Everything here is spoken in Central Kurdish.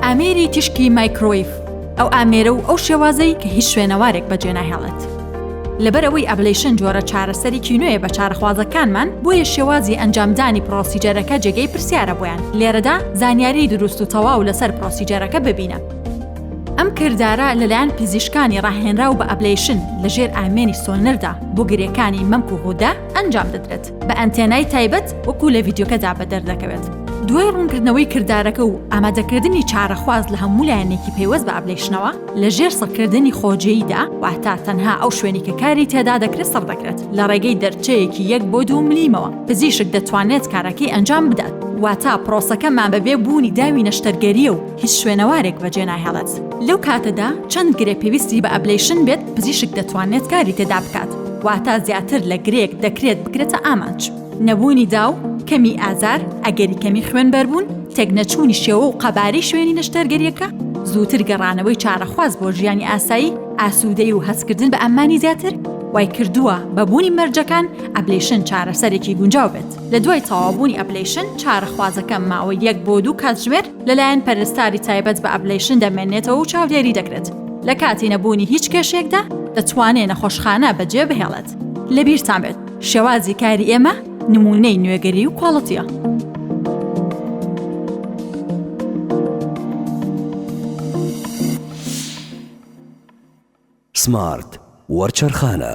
ئامێری تیشکی مایکرۆیف ئەو ئامێرە و ئەو شێوازەی کە هیچ شوێنەوارێک بەجێ ناهێڵێت. لەبەر ئەوەی ئەبلیشن جۆرە چارەسەری کینوێ بە چارەخوازەکانمان بۆیە شێوازی ئەنجامدانی پڕۆسیجەرەکە جێگەی پرسیارە بۆیان لێرەدا زانیاری دروست و تەواو لەسەر پڕۆسیجەرەکە ببینە. ئەم کردارە لەلایەن پزیشکانی ڕاهێنراو بە ئەبلیشن لەژێر ئامێری سۆنەردا بۆ گرێکانی مەمک و غودە ئەنجام دەدرێت. بە ئەنتێنای تایبەت وەکو لە ڤیدیۆکەدا بەدەر دەکەوێت دوای ڕوونکردنەوەی کردارەکە و ئامادەکردنی چارەخواز لە هەموو لایەنێکی پەیوەست بە ئەبلەیشنەوە لە ژێر سڕکردنی خۆجێیدا واتا تەنها ئەو شوێنی کە کاری تێدا دەکرێت سڕ دەکرێت لە ڕێگەی دەرچەیەکی یەک بۆ دوو ملیمەوە پزیشک دەتوانێت کارەکەی ئەنجام بدات واتا پرۆسەکەمان بەبێ بوونی داوی نەشتەرگەریە و هیچ شوێنەوارێک بەجێ ناهێڵێت. لەو کاتەدا چەند گرێ پێویستی بە ئەبلەیشن بێت پزیشک دەتوانێت کاری تێدا بکات، واتە زیاتر لە گرێیەک دەکرێت بکرێتە ئامانج. نەبوونی داو، کەمی ئازار، ئەگەری کەمی خوێنبەربوون، تێکنەچوونی شێوە و قەبارەی شوێنی نەشتەرگەرییەکە، زووتر گەڕانەوەی چارەخواز بۆ ژیانی ئاسایی، ئاسوودەیی و هەستکردن بە ئەممانی زیاتر، وایکردووە بە بوونی مەرجەکان ئەبلەیشن چارەسەرێکی گونجاو بێت. لەدوای تەواوبوونی ئەبلەیشن چارەخوازەکە ماوەی یەک بۆ دوو کاتژمێر لەلایەن پەرستاری تایبەت بە ئەبلەیشن دەمێنێتەوە و چاودێری دەکرێت، لە کاتی نەبوونی هیچ کێشەیەکدا دەتوانێت نەخۆشخانە بەجێبهێڵێت. لەبیرتان بێت شێوازی کاری ئێمە نموونەی نوێگەری و کواڵتییە. سمارت وەرچەرخانە.